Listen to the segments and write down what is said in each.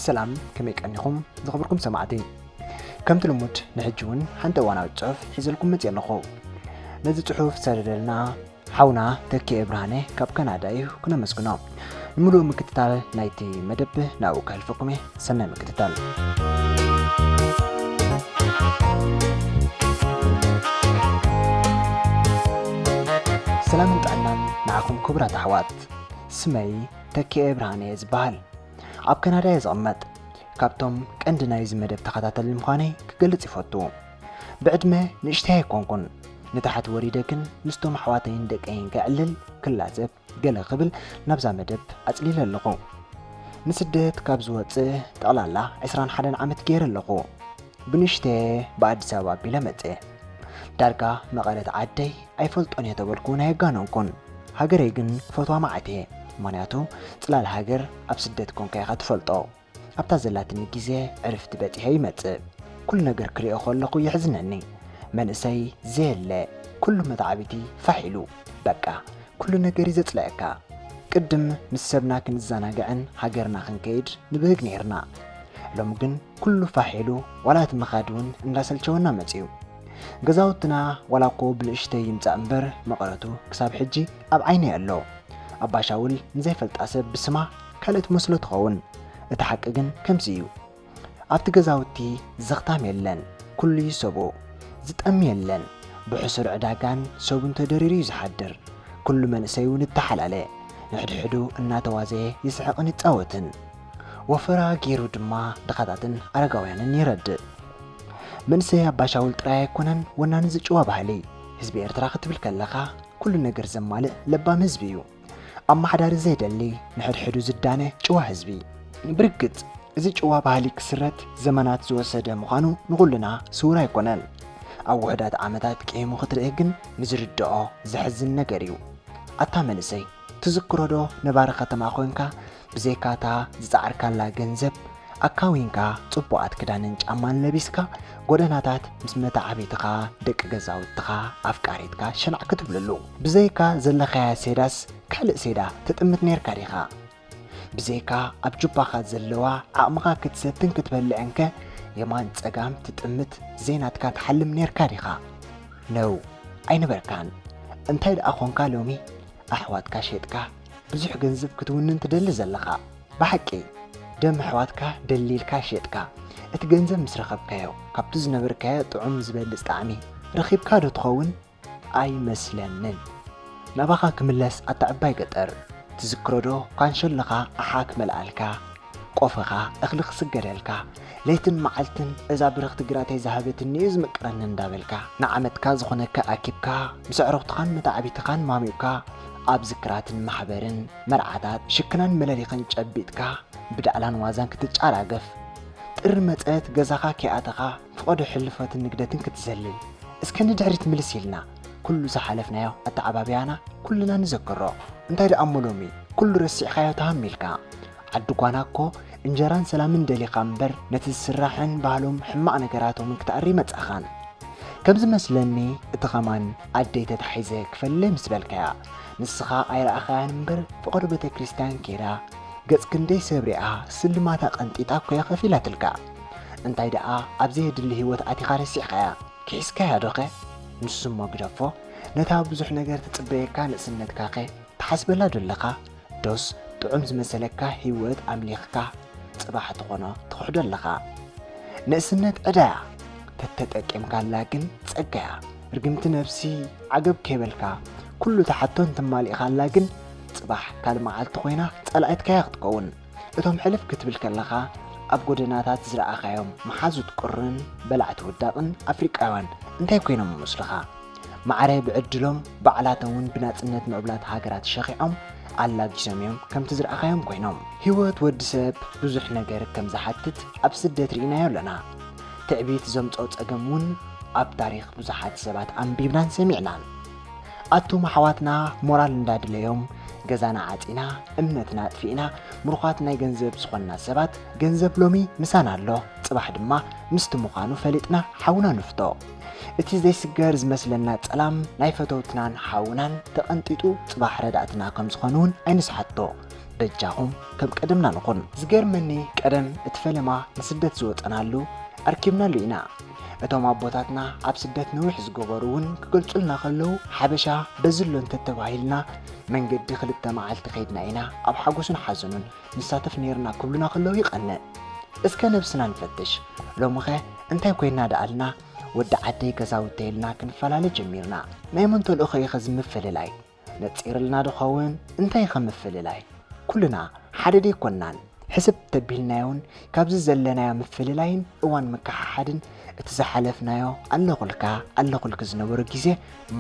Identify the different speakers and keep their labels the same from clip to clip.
Speaker 1: ሰላም ከመይ ቀኒኹም ዝኽብርኩም ሰማዕቲ ከምቲ ልሙድ ንሕጂ እውን ሓንቲ እዋናዊት ጽሑፍ ሒዘልኩም መጽየ ኣለኹ ነዚ ጽሑፍ ሰደደልና ሓውና ተኪኤ ብርሃነ ካብ ካናዳ እዩ ክነመስግኖ። ንምሉእ ምክትታል ናይቲ መደብ ናብኡ ከህልፈኩም እየ። ሰናይ ምክትታል። ሰላምን ጥዕናን ንዓኹም ክቡራት ኣሕዋት። ስመይ ተኪኤ ብርሃነ እየ ዝበሃል። ኣብ ካናዳ እየ ዝቕመጥ። ካብቶም ቀንዲ ናይዚ መደብ ተኸታተሊ ምዃነይ ክገልጽ ይፈቱ። ብዕድመ ንእሽተይ ኣይኮንኩን ንታሕቲ ወሪደ ግን ምስቶም ኣሕዋተይን ደቀይን ከዕልል ክላዘብ ገለ ክብል ናብዛ መደብ ኣጽሊለ ኣለኹ ንስደት ካብ ዝወፅእ ጠቕላላ 21 ዓመት ገይረ ኣለኹ ብንሽተ ብኣዲስ ኣበባ ኣቢለ መፀ ዳርጋ መቐረት ዓደይ ኣይፈልጦን እየ ተበልኩን ኣየጋነንኩን ሃገረይ ግን ክፈትዋ ማዓት እየ ምክንያቱ ፅላል ሃገር ኣብ ስደት ኮንካ ኢኻ ትፈልጦ ኣብታ ዘላትኒ ግዜ ዕርፍቲ በጺሔ ይመጽእ ኩሉ ነገር ክሪኦ ከለኩ የሕዝነኒ መንእሰይ ዘየለ ኩሉ መተዓቢቲ ፋሕ ኢሉ በቃ ኩሉ ነገር እዩ ዘጽልኣካ ቅድም ምስ ሰብና ክንዛናግዕን ሃገርና ክንከይድ ንብህግ ነይርና ሎሚ ግን ኩሉ ፋሕ ኢሉ ዋላ እቲ ምኻድ እውን እንዳሰልቸወና መጽዩ ገዛውትና ዋላ እኮ ብንእሽተይ ይምጻእ እምበር መቐረቱ ክሳብ ሕጂ ኣብ ዓይነይ ኣሎ ኣባሻውል ንዘይፈልጣ ሰብ ብስማ ካልእ ትመስሎ ትኸውን እቲ ሓቂ ግን ከምዚ እዩ ኣብቲ ገዛውቲ ዘኽታም የለን ኩሉ እዩ ሰቡ ዝጠሚ የለን ብሕሱር ዕዳጋን ሰቡን ተደሪሩ እዩ ዝሓድር ኩሉ መንእሰይ እውን እተሓላለ ንሕድሕዱ እናተዋዘየ ይስሕቕን ይጻወትን ወፈራ ገይሩ ድማ ድኻታትን ኣረጋውያንን ይረድእ መንእሰይ ኣባሻውል ጥራይ ኣይኮነን ወናኒ ዝጭዋ ባህሊ ህዝቢ ኤርትራ ክትብል ከለኻ ኩሉ ነገር ዘማልእ ለባም ህዝቢ እዩ ኣመሓዳሪ ዘይደሊ ንሕድሕዱ ዝዳነ ጭዋ ህዝቢ። ብርግጽ እዚ ጭዋ ባህሊ ክስረት ዘመናት ዝወሰደ ምዃኑ ንኹልና ስዉር ኣይኮነን። ኣብ ውሑዳት ዓመታት ቂሂሙ ክትርእ ግን ንዝርድኦ ዘሕዝን ነገር እዩ። ኣታ መንእሰይ ትዝክሮዶ ነባሪ ከተማ ኮንካ ብዘይካ እታ ዝጸዓርካላ ገንዘብ ኣካዊንካ ጽቡቓት ክዳንን ጫማን ለቢስካ ጎደናታት ምስ መታዓቢትኻ ደቂ ገዛውትኻ ኣፍቃሪትካ ሸናዕ ክትብለሉ ብዘይካ ዘለኻያ ሴዳስ ካልእ ሴዳ ትጥምት ነርካ ዲኻ ብዘይካ ኣብ ጁባኻ ዘለዋ ዓቕምኻ ክትሰትን ክትበልዕን ከ የማን ጸጋም ትጥምት ዘይናትካ ትሓልም ነርካ ዲኻ ነው ኣይነበርካን እንታይ ደኣ ኾንካ ሎሚ ኣሕዋትካ ሸጥካ ብዙሕ ገንዘብ ክትውንን ትደሊ ዘለኻ ብሓቂ ደም ኣሕዋትካ ደሊልካ ሸጥካ እቲ ገንዘብ ምስ ረኸብካዮ ካብቲ ዝነበርካዮ ጥዑም ዝበልፅ ጣዕሚ ረኺብካ ዶ ትኸውን ኣይመስለንን ናባኻ ክምለስ ኣታ ዕባይ ገጠር ትዝክሮ ዶ ካንሸሎኻ ኣሓ ክመልኣልካ ቆፈኻ እኽሊ ክስገደልካ ለይትን መዓልትን እዛ ብርኽቲ ግራተይ ዝሃበትኒ እዩ ዝምቅረኒ እንዳበልካ ንዓመትካ ዝኾነካ ኣኪብካ ምስ ኣዕሩኽትኻን መታዕቢትኻን ማሚቕካ ኣብ ዝክራትን ማሕበርን መርዓታት ሽክናን መለሊኽን ጨቢጥካ ብዳእላን ዋዛን ክትጫራገፍ ጥሪ መጸት ገዛኻ ከይኣተኻ ፍቐዶ ሕልፈትን ንግደትን ክትዘልል እስከ ንድሕሪት ምልስ ኢልና ኩሉ ዝሓለፍናዮ ኣተዓባብያና ኩልና ንዘክሮ። እንታይ ደኣ እሞ ሎሚ ኩሉ ረሲዕካዮ ተሃሚልካ። ዓዲ ጓና እኮ እንጀራን ሰላምን ደሊኻ እምበር ነቲ ዝስራሕን ባህሎም ሕማቕ ነገራቶምን ክትኣሪ ኣይመጻኻን። ከም ዝመስለኒ እቲ ከማን ኣደይ ተታሒዘ ክፈለይ ምስ በልካያ ንስኻ ኣይረኣኻያን እምበር ፍቐዶ ቤተክርስትያን ከይዳ ገጽ ክንደይ ሰብ ሪኣ ስልማታ ቀንጢጣ እኮ'ያ ከፊላትልካ። እንታይ ደኣ ኣብ ዘየድሊ ህይወት ኣቲኻ ረሲዕካያ ኪሒስካያዶኸ? ንሱ'ሞ ግደፎ፣ ነታ ብዙሕ ነገር ትጽበየካ ንእስነትካኸ ትሓስበላዶ ኣለኻ? ዶስ ጥዑም ዝመሰለካ ህይወት ኣምሊኽካ ጽባሕ ትኾኖ ትኽሕዶ ኣለኻ? ንእስነት ዕዳ'ያ፣ ተተጠቂምካላ ግን ጸጋ'ያ። ርግምቲ ነብሲ ዓገብ ከይበልካ ኩሉ ትሓቶን ተማሊእካላ ግን ጽባሕ ካልእ መዓልቲ ኮይና ጸላኢትካ'ያ ክትከውን። እቶም ሕልፍ ክትብል ከለኻ ኣብ ጎደናታት ዝረኣኻዮም መሓዙት ቁርን በላዕቲ ውዳቕን ኣፍሪቃውያን እንታይ ኮይኖም ይመስሉኻ? ማዕረ ብዕድሎም ባዕላተውን ብናጽነት ምዕቡላት ሃገራት ሸኺዖም ኣላጊሶምዮም ከምቲ ዝረኣኻዮም ኮይኖም። ህይወት ወዲ ሰብ ብዙሕ ነገር ከም ዝሓትት ኣብ ስደት ርኢናዮ ኣሎና። ትዕቢት ዘምጽኦ ጸገምውን ኣብ ታሪኽ ብዙሓት ሰባት ኣንቢብናን ሰሚዕናን። ኣቱም ኣሕዋትና ሞራል እንዳድለዮም ገዛና ዓጺና እምነትና ኣጥፊእና ምሩኻት ናይ ገንዘብ ዝኾንና ሰባት ገንዘብ ሎሚ ምሳና ኣሎ ጽባሕ ድማ ምስቲ ምዃኑ ፈሊጥና ሓውና ንፍቶ እቲ ዘይስገር ዝመስለና ጸላም ናይ ፈተውትናን ሓውናን ተቐንጢጡ ጽባሕ ረዳእትና ከም ዝኾኑ እውን ኣይንስሓቶ በጃኹም ከም ቀደምና ንኹን ዝገርመኒ ቀደም እቲ ፈለማ ንስደት ዝወፀናሉ ኣርኪብናሉ ኢና እቶም ኣቦታትና ኣብ ስደት ነዊሕ ዝገበሩ እውን ክገልጹልና ከለዉ ሓበሻ በዚ ኣሎ እንተተባሂልና መንገዲ ክልተ መዓልቲ ከይድና ኢና ኣብ ሓጎሱን ሓዘኑን ንሳተፍ ነይርና ክብሉና ከለዉ ይቐንእ እስከ ነብስና ንፈትሽ ሎምኸ እንታይ ኮይና ደኣልና ወዲ ዓደይ ገዛውተይ ኢልና ክንፈላለ ጀሚርና ናይ መን ተልእኾ ኢኸ ዝምፍልላይ ነጺርልና ድኸውን እንታይ ኢኸ ምፍልላይ ኩልና ሓደ ደይኮናን ሕስብ ተቢልናዮን ካብዚ ዘለናዮ ምፍልላይን እዋን ምክሓሓድን እቲ ዝሓለፍናዮ ኣለኹልካ ኣለኹልኪ ዝነበሩ ግዜ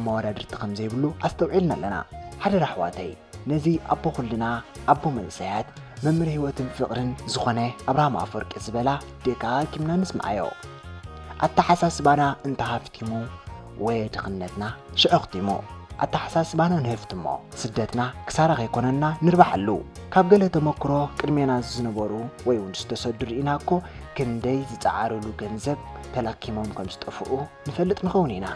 Speaker 1: መወዳድርቲ ከምዘይብሉ ኣስተውዒልና ኣለና ሓደራ ኣሕዋተይ ነዚ ኣቦ ኩልና ኣቦ መንእሰያት መምህር ህይወትን ፍቕርን ዝኾነ ኣብርሃም ኣፈወርቂ ዝበላ ደጋጊምና ንስምዓዮ ኣተሓሳስባና እንተሃፍቲሙ ወየ ድኽነትና ሽዑ ኣኽቲሙ ኣተሓሳስባና ንህፍትሞ ስደትና ክሳራ ከይኮነና ንርባሓሉ ካብ ገለ ተመክሮ ቅድሜና ዝነበሩ ወይ እውን ዝተሰዱ ርኢና እኮ ክንደይ ዝፀዓርሉ ገንዘብ ተላኪሞም ከም ዝጠፍኡ ንፈልጥ ንኸውን ኢና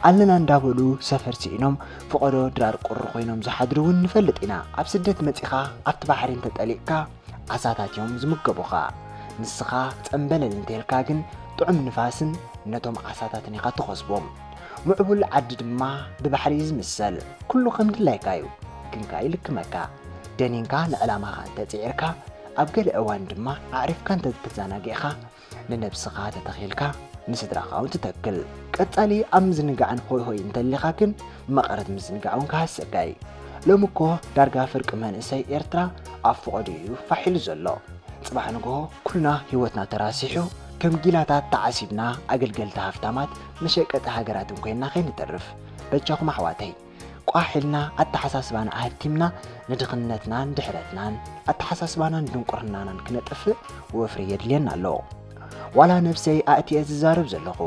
Speaker 1: ኣለና እንዳበሉ ሰፈር ስኢኖም ፍቐዶ ድራር ቁሪ ኮይኖም ዝሓድሩ እውን ንፈልጥ ኢና ኣብ ስደት መፂኻ ኣብቲ ባሕሪ እንተጠሊቕካ ዓሳታት እዮም ዝምገቡኻ። ንስኻ ጸምበለል እንተልካ ግን ጥዑም ንፋስን ነቶም ዓሳታትን ኢኻ ትኸስቦም። ምዕቡል ዓዲ ድማ ብባሕሪ እዩ ዝምሰል። ኩሉ ከም ድላይካ እዩ ግን ከኣ ይልክመካ። ደኒንካ ንዕላማኻ እንተጽዒርካ ኣብ ገለ እዋን ድማ ኣዕሪፍካ እንተተዘናጊዕካ ንነብስኻ ተተኺኢልካ ንስድራኻ ውን ትተክል። ቀጻሊ ኣብ ምዝንጋዕን ሆይ ሆይ እንተሊኻ ግን መቐረት ምዝንጋዕ ውን ክሃሰካ ዩ። ሎሚ እኮ ዳርጋ ፍርቂ መንእሰይ ኤርትራ ኣብ ፎቖድኡ ዩ ፋሕ ኢሉ ዘሎ። ጽባሕ ንግሆ ኩልና ሂወትና ተራሲሑ ከም ጊላታት ተዓሲብና ኣገልገልቲ ሃፍታማት መሸቀጢ ሃገራትን ኮይና ከይንተርፍ። በጃኹም ኣሕዋተይ! ቋሕ ኢልና ኣተሓሳስባና ኣሀብቲምና ንድኽነትናን ድሕረትናን፣ ኣተሓሳስባናን ድንቁርናናን ክነጥፍእ ወፍሪ የድልየና ኣሎ። ዋላ ነብሰይ ኣእትየ ዝዛረብ ዘለኹ፣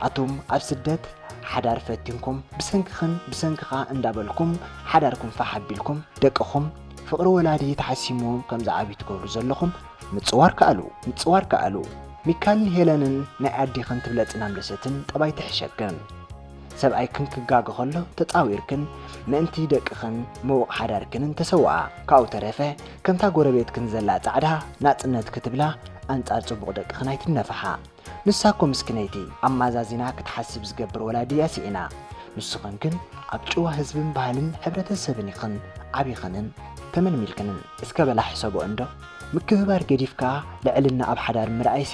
Speaker 1: ኣቱም ኣብ ስደት ሓዳር ፈቲንኩም ብሰንክኽን ብሰንክኻ እንዳበልኩም ሓዳርኩም ፋሕ ኣቢልኩም ደቅኹም ፍቕሪ ወላዲ ተሓሲምዎም ከም ዝዓብዩ ትገብሩ ዘለኹም ምጽዋር ከኣሉ ምጽዋር ከኣሉ ሚካልን ሄለንን ናይ ኣዴኽን ትብለጽን ኣምለሰትን ጠባይ ትሕሸክን። ሰብኣይክን ክጋገ ከሎ ተጻዊርክን ምእንቲ ደቅኽን ምዉቕ ሓዳርክንን ተሰውኣ። ካብኡ ተረፈ ከምታ ጎረቤትክን ዘላ ጻዕዳ ናጽነት ክትብላ ኣንጻር ጽቡቕ ደቅኽን ኣይትነፍሓ። ንሳ እኮ ምስኪነይቲ ኣማዛዚና ክትሓስብ ዝገብር ወላዲ እያ ስኢና። ንስኽን ግን ኣብ ጭዋ ህዝብን ባህልን ሕብረተሰብን ኢኽን ዓቢኽንን ተመልሚልክንን። እስከ በላ ሕሰቦ እንዶ ምክብባር ገዲፍካ ልዕልና ኣብ ሓዳር ምርኣይሲ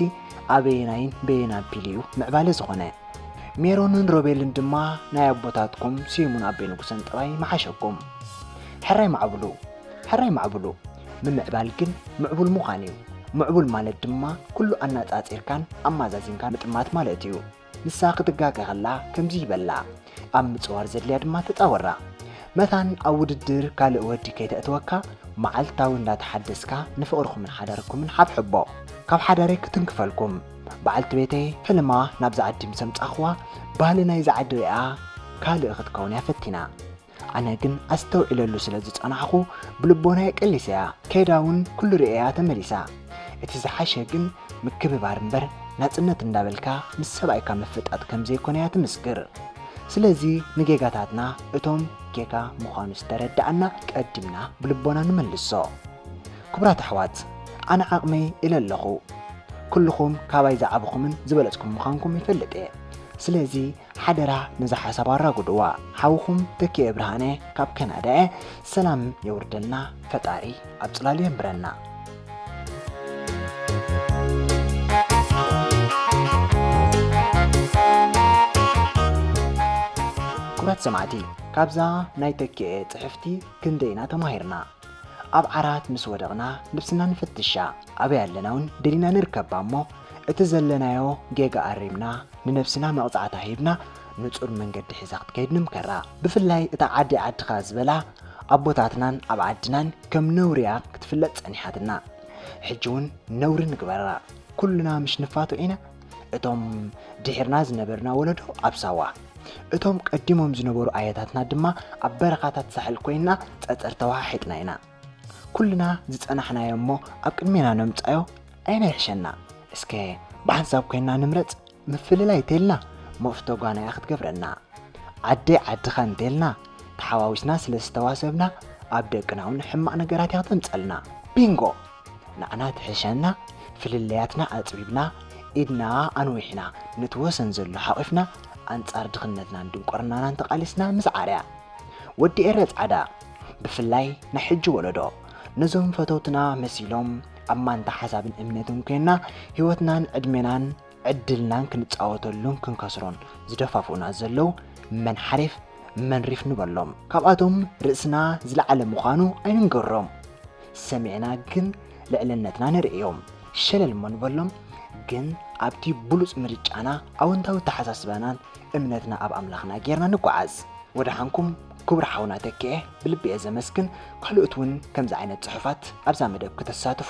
Speaker 1: ኣበየናይን በየናን ፒል እዩ ምዕባለ ዝኾነ? ሜሮንን ሮቤልን ድማ ናይ ኣቦታትኩም ስዩምን ኣቤ ንጉሰን ጥራይ ምሓሸኩም። ሕራይ ማዕብሉ ሕራይ ማዕብሉ ምምዕባል ግን ምዕቡል ምዃን እዩ። ምዕቡል ማለት ድማ ኩሉ ኣናጻጺርካን ኣማዛዚንካን ምጥማት ማለት እዩ። ንሳ ክትጋገ ከላ ከምዚ ይበላ፣ ኣብ ምጽዋር ዘድልያ ድማ ተጻወራ። መታን ኣብ ውድድር ካልእ ወዲ ከይተእትወካ መዓልታዊ እንዳተሓደስካ ንፍቕርኹምን ሓዳርኩምን ሓብሕቦ። ካብ ሓዳረይ ክትንክፈልኩም በዓልቲ ቤተይ ሕልማ ናብዚ ዓዲ ምስ ኣምጻኽዋ ባህሊ ናይዚ ዓዲ ሪኣ ካልእ ክትከውን እያ ፈቲና። ኣነ ግን ኣስተውዒለሉ ስለ ዝጸናሕኹ ብልቦናይ ቀሊሰያ ከይዳ እውን ኩሉ ርእየያ ተመሊሳ። እቲ ዝሓሸ ግን ምክብባር እምበር ናጽነት እንዳበልካ ምስ ሰብኣይካ ምፍጣጥ ከም ዘይኮነ እያ ትምስክር። ስለዚ ንጌጋታትና እቶም ጌጋ ምዃኑ ዝተረዳእና ቀዲምና ብልቦና ንመልሶ። ክቡራት ኣሕዋት ኣነ ዓቕመይ ኢለ ኣለኹ ኩሉኹም ካባይ ዝዓበኹምን ዝበለጽኩም ምዃንኩም ይፈልጥ እየ ስለዚ ሓደራ ነዛ ሓሳብ ኣራጉድዋ ሓውኹም ተኪኤ ብርሃነ ካብ ከናዳ እየ ሰላም የውርደልና ፈጣሪ ኣብ ጽላሉ የንብረና ክቡራት ሰማዕቲ ካብዛ ናይ ተኪኤ ጽሕፍቲ ክንደይና ተማሂርና ኣብ ዓራት ምስ ወደቕና ንብስና ንፍትሻ፣ ኣበይ ኣለናውን ደሊና ንርከብ እሞ እቲ ዘለናዮ ጌጋ ኣሪምና ንነብስና መቕጻዕታ ሂብና ንጹር መንገዲ ሒዛ ክትከይድ ንምከራ። ብፍላይ እታ ዓደይ ዓድኻ ዝበላ ኣቦታትናን ኣብ ዓድናን ከም ነውሪያ ክትፍለጥ ጸኒሓትና ሕጂውን ነውሪ ንግበራ ኩልና ምሽ ንፋቶ ኢና እቶም ድሒርና ዝነበርና ወለዶ ኣብ ሳዋ እቶም ቀዲሞም ዝነበሩ ኣያታትና ድማ ኣብ በረኻታት ሳሕል ኮይና ጸጸር ተዋሓሒጥና ኢና ኩልና ዝጸናሕናዮ እሞ ኣብ ቅድሜና ነምጻዮ ኣይና ይሕሸና እስከ ብሓንሳብ ኮይና ንምረጽ ምፍልላይ እንተልና መፍቶ ጓናያ ክትገብረና ዓደይ ዓድኻ እንተልና ተሓዋዊስና ስለ ዝተዋሰብና ኣብ ደቅና እውን ሕማቕ ነገራት እያ ክተምጸልና ቢንጎ ንዓና ትሕሸና ፍልልያትና ኣጽቢብና ኢድና ኣንዊሕና ነቲ ወሰን ዘሎ ሓቒፍና ኣንጻር ድኽነትናን ድንቁርናናን ተቓሊስና ምስ ዓርያ ወዲ ኤረ ጻዕዳ ብፍላይ ናይ ሕጂ ወለዶ ነዞም ፈተውትና መሲሎም ኣብ ማንታ ሓሳብን እምነትን ኮይና ህይወትናን ዕድሜናን ዕድልናን ክንጻወተሉን ክንከስሮን ዝደፋፍኡና ዘለው መን ሓሪፍ መን ሪፍ ንበሎም። ካብኣቶም ርእስና ዝለዓለ ምዃኑ ኣይንንገሮም፣ ሰሚዕና ግን ልዕልነትና ነርእዮም። ሸለል እሞ ንበሎም፣ ግን ኣብቲ ብሉጽ ምርጫና ኣወንታዊ ኣተሓሳስባናን እምነትና ኣብ ኣምላኽና ጌርና ንጓዓዝ። ወደሓንኩም ክቡር ሓውና ተኪኤ ብልቢ'የ ዘመስግን ካልኦት'ውን ከምዚ ዓይነት ጽሑፋት ኣብዛ መደብ ክተሳትፉ